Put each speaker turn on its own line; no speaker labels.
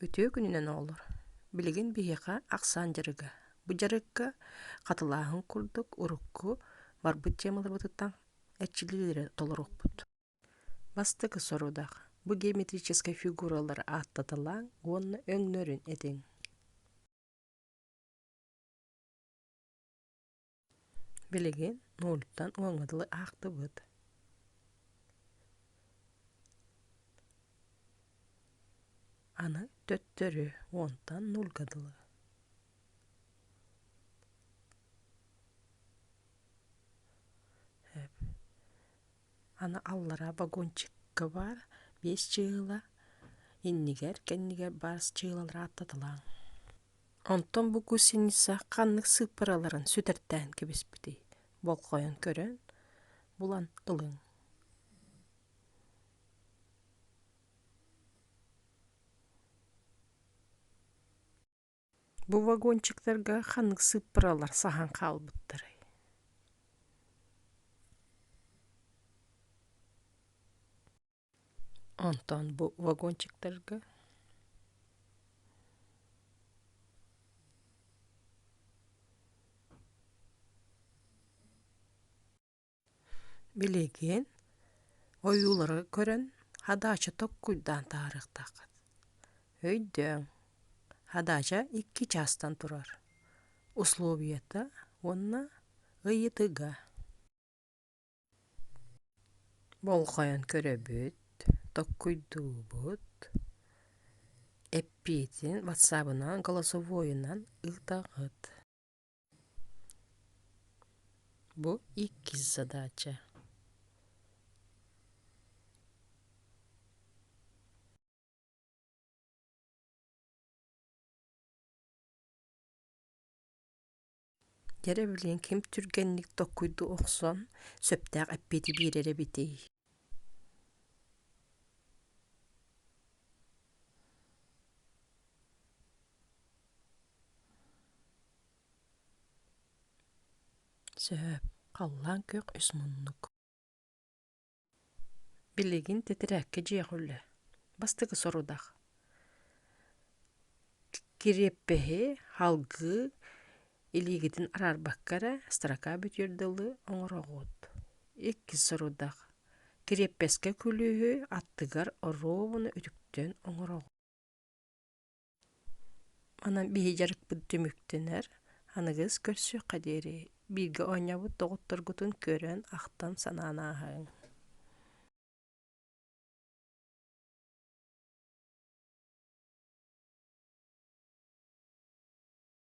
Үтүө күнүнэн оҕолор! Билигин биһиэхэ ахсаан дьарыга. Бу дьарыкка хатылааһын курдук урукку барбыт темаларбытыттан эрчиллиилэри толорукпут. Бастакы сорудах бу геометрическай фигуралары ааттатылааҥ уонна өҥнөрүн этиҥ. Билигин нууччаттан уоҥҥа дылы аахтыбыт аны төттөрү уонтан нуурга дылы аны аллараа вагончикка баар биэс чыыла иннигэр кэннигэр баар чыылалары ааттаталааҥ Онтон бу гусеница ханнык сыыппараларын сүтэртээн кэбиспитий болҕойон көрөн булан ылыҥ бу вагончиктарга ханнык сыыппаралар саһан хаалбыттарый Онтон бу вагончиктарга билигин ойуулары көрөн хадаача токкуйдаан таарыахтааххыт өйдөөҥ хадаача икки чаастан турар условията уонна ыйытыга болҕойон көрөбүт толкуйдуубут эппиэтин ватсабынан голосовойунан ыытаҕыт бу иккис задача Дьэ эрэ билигин ким түргэнник толкуйду охсон сөптөөх эппиэти биэрэр эбитий сөп халлаан күөх үс муннук Билигин тэтэрээккэ дьиэҕүллэ бастакы сорудах кириэппэһи халгыы илиигитин араарбакка эрэ строка бүтүөр дылы оҥороҕут иккис сорудах кириэппэскэ күлүүһү аттыгар оруобуна үтүктэн оҥороҕут Онон биһи дьарыкпыт түмүктэнэр. Аныгыс көрсүөххэ диэри бииргэ оонньообут доҕотторгутун көрөн, ахтан, санаан ааһыҥ